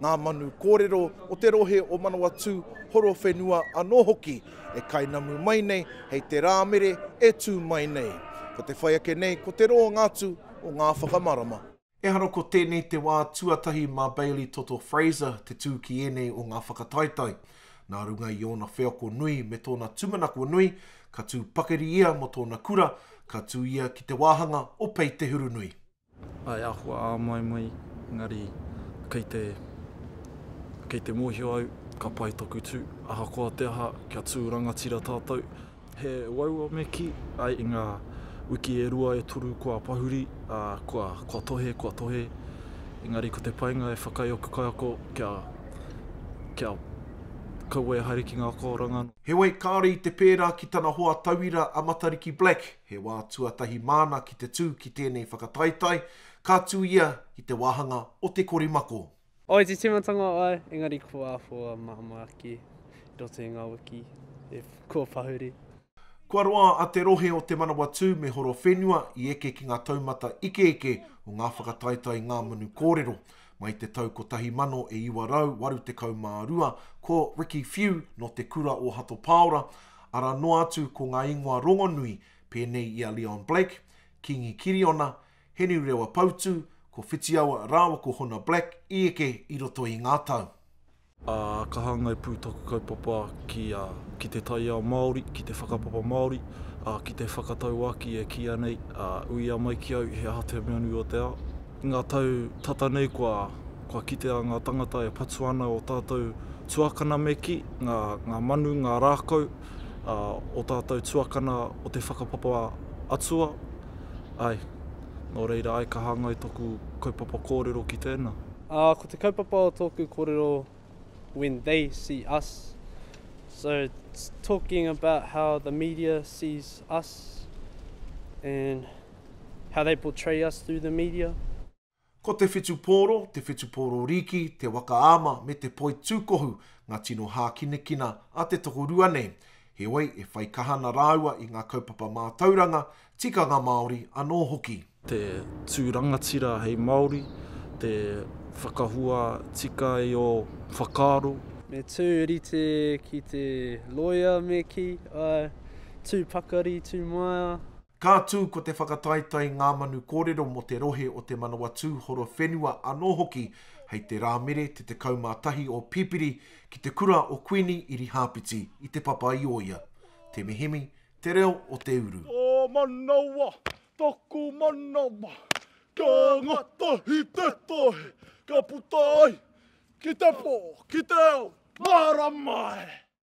ngā manu kōrero o te rohe o Manawatū Horowhenua anō hoki e kainamu mai nei hei te Rāmere e tū mai nei. Ko te whai ake nei ko te roanga atu o ngā whakamarama. Ehara ko tēnei te wā tuatahi mā Bailey Toto Fraser te tū ki ēnei o ngā whakataetae. Nā runga i ōna wheako nui me tōna tūmanako nui, ka tū pakari ia mō tōna kura, ka tū ia ki te wāhanga o Pei Te Hurunui. He āhua āmoemoe, engari kei te, kei te mōhio au, ka pai taku tū. Ahakoa te aha, kia tū rangatira tātou. He waua me kī, āe, i ngā wiki e rua, e toru kua pahuri, ā, kua, kua tohe, kua tohe. Engari ko te painga e whakaae aku kaiako, kia, kia kaua e haere ki ngā akoranga. Heoi, kāore i te pērā ki tana hoa tauira a Matariki Black, He wā tuatahi māna ki te tū ki tēnei whakataetae, ka tū ia ki te wāhanga o Te Korimako. Āe, te tīmatanga āe, engari kua āhua māmā ake i roto i ngā wiki e kua pahuri. Kua roa a te rohe o Te Manawatū me Horowhenua i eke ki ngā taumata ikeike o ngā whakataetae Ngā Manu Kōrero. Mai te tau 1982 ko Ricky Few nō Te Kura o Hato Pāora Arā noa atu ko ngā ingoa rongonui pēnei i a Leon Blake, Kīngi Kiriona, Heni Rewa Pautū, ko Whitiawa rāua ko Hona Black i eke i roto i ngā tau. Ā, ka hāngai pū taku kaupapa ki a, ki te taiao Māori, ki te whakapapa Māori, ā, ki te whakatauākī e kīia nei, ā, uia mai ki au he aha te meanui o te ao. I ngā tau tata nei kua, kua kitea ngā tangata e patu ana o tātou tuakana me kī, ngā, ngā manu, ngā rākau, ā, o tātou tuakana o te whakapapa atua. Āe. Nō reira, āe ka hāngai tōku kaupapa kōrero ki tēnā. Ā, ko te kaupapa o tōku kōrero when they see us, so it's talking about how the media sees us and. How they portray us through the media. Ko Te Whitupōro, Te Whitupōro Rīki, Te Wakaama me Te Poitūkohu ngā tino hākinakina a te tokorua nei. Heoi, e whai kaha ana rāua i ngā kaupapa mātauranga, tikanga Māori anō hoki. Te tū rangatira hei Māori, te whakahua tika i ō whakaaro. Me tū rite ki te loea me kī, āe, tū pakari, tū maea. Ka tū ko te whakataetae Ngā Manu Kōrero mō te rohe o Te Manawatū Horowhenua anō hoki hei te Rāmere te 11 o Pipiri ki te kura o Kuini Irihāpiti i Te Papa-i-ōia. Te Mihimi, te reo o te uru. Tō manawa, tōku manawa, kia ngatahi te tohe, kia puta ai ki te pō, ki te ao, marama e!